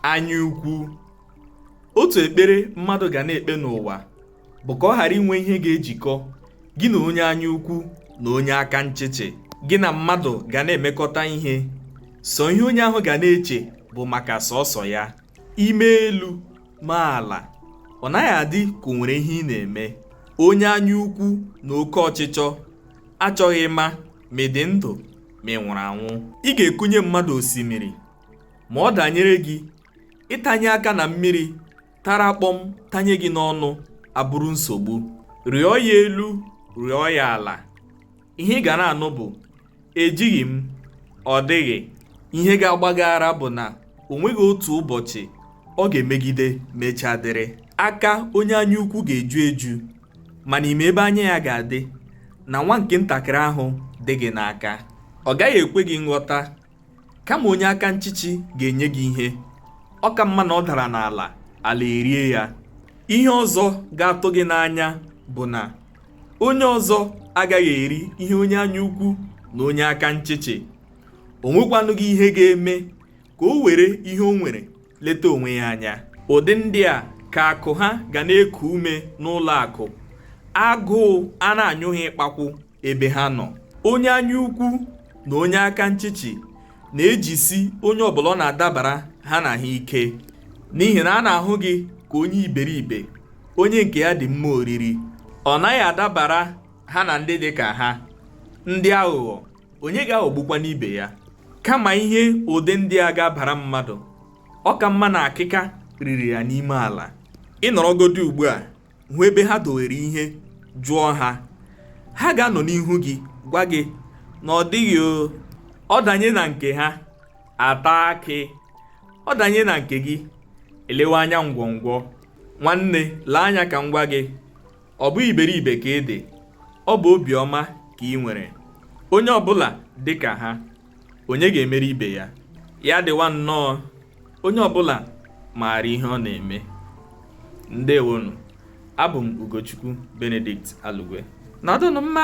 anya ukwu otu ekpere mmadụ ga na-ekpe n'ụwa bụ ka ọ ghara inwe ihe ga-ejikọ gị na onye anya ukwu na onye aka nchịchị gị na mmadụ ga na-emekọta ihe sọ ihe onye ahụ ga na-eche bụ maka sọsọ ya ime elu ma ala ọ naghị adị ka o nwere ihe ị na-eme onye anya ukwu na oke ọchịchọ achọghị ịma ma ị dị ndụ ma ị nwụrụ anwụ ị ga-ekunye mmadụ osimiri ma ọ danyere gị ịtanye aka na mmiri tara kpọm tanye gị n'ọnụ abụrụ nsogbu rịọ ya elu rịọ ya ala ihe ị ga na-anụ bụ ejighị m ọ dịghị ihe ga-agba gị ara bụ na o nweghị otu ụbọchị ọ ga-emegide mechaa dịrị aka onye anya ukwu ga-eju eju mana ị ma ebe anya ya ga-adị na nwa nke ntakịrị ahụ dị gị n'aka ọ gaghị ekwe gị nghọta kama onye aka nchịchị ga-enye gị ihe ọ ka mma na ọ dara n'ala ala erie ya ihe ọzọ ga-atụ gị n'anya bụ na onye ọzọ agaghị eri ihe onye anya ukwu na onye aka nchịchị o nwekwanụghị ihe ga-eme ka o were ihe o nwere leta onwe ya anya ụdị ndị a ka akụ ha ga na-eku ume n'ụlọ akụ agụụ a na-anyụ ha ịkpakwụ ebe ha nọ onye anya ukwu na onye aka nchịchị na-ejisi onye ọbụla ọ na-adabara ha na ha ike n'ihi na a na-ahụ gị ka onye iberibe onye nke ya dị mma oriri ọ naghị adabara ha na ndị dị ka ha ndị aghụghọ onye ga-aghọgbukwanụ ibe ya kama ihe ụdị ndị a ga-abara mmadụ ọ ka mma na akịka riri ya n'ime ala ị nọrọgodi ugbu a hụ ebe ha dowere ihe jụọ ha ha ga-anọ n'ihu gị gwa gị na ọ dịghị ọ danye na nke ha ata akị ọ danye na nke gị e lewe anya ngwọngwọ nwanne lee anya ka m gwa gị ọ bụghị iberibe ka ị dị ọ bụ obiọma ka i nwere onye ọbụla dị ka ha onye ga-emere ibe ya ya dịwa nnọọ onye ọbụla maara ihe ọ na-eme ndewonụ abụ m Ugochukwu Benedict Alugwe nọdụnụ mma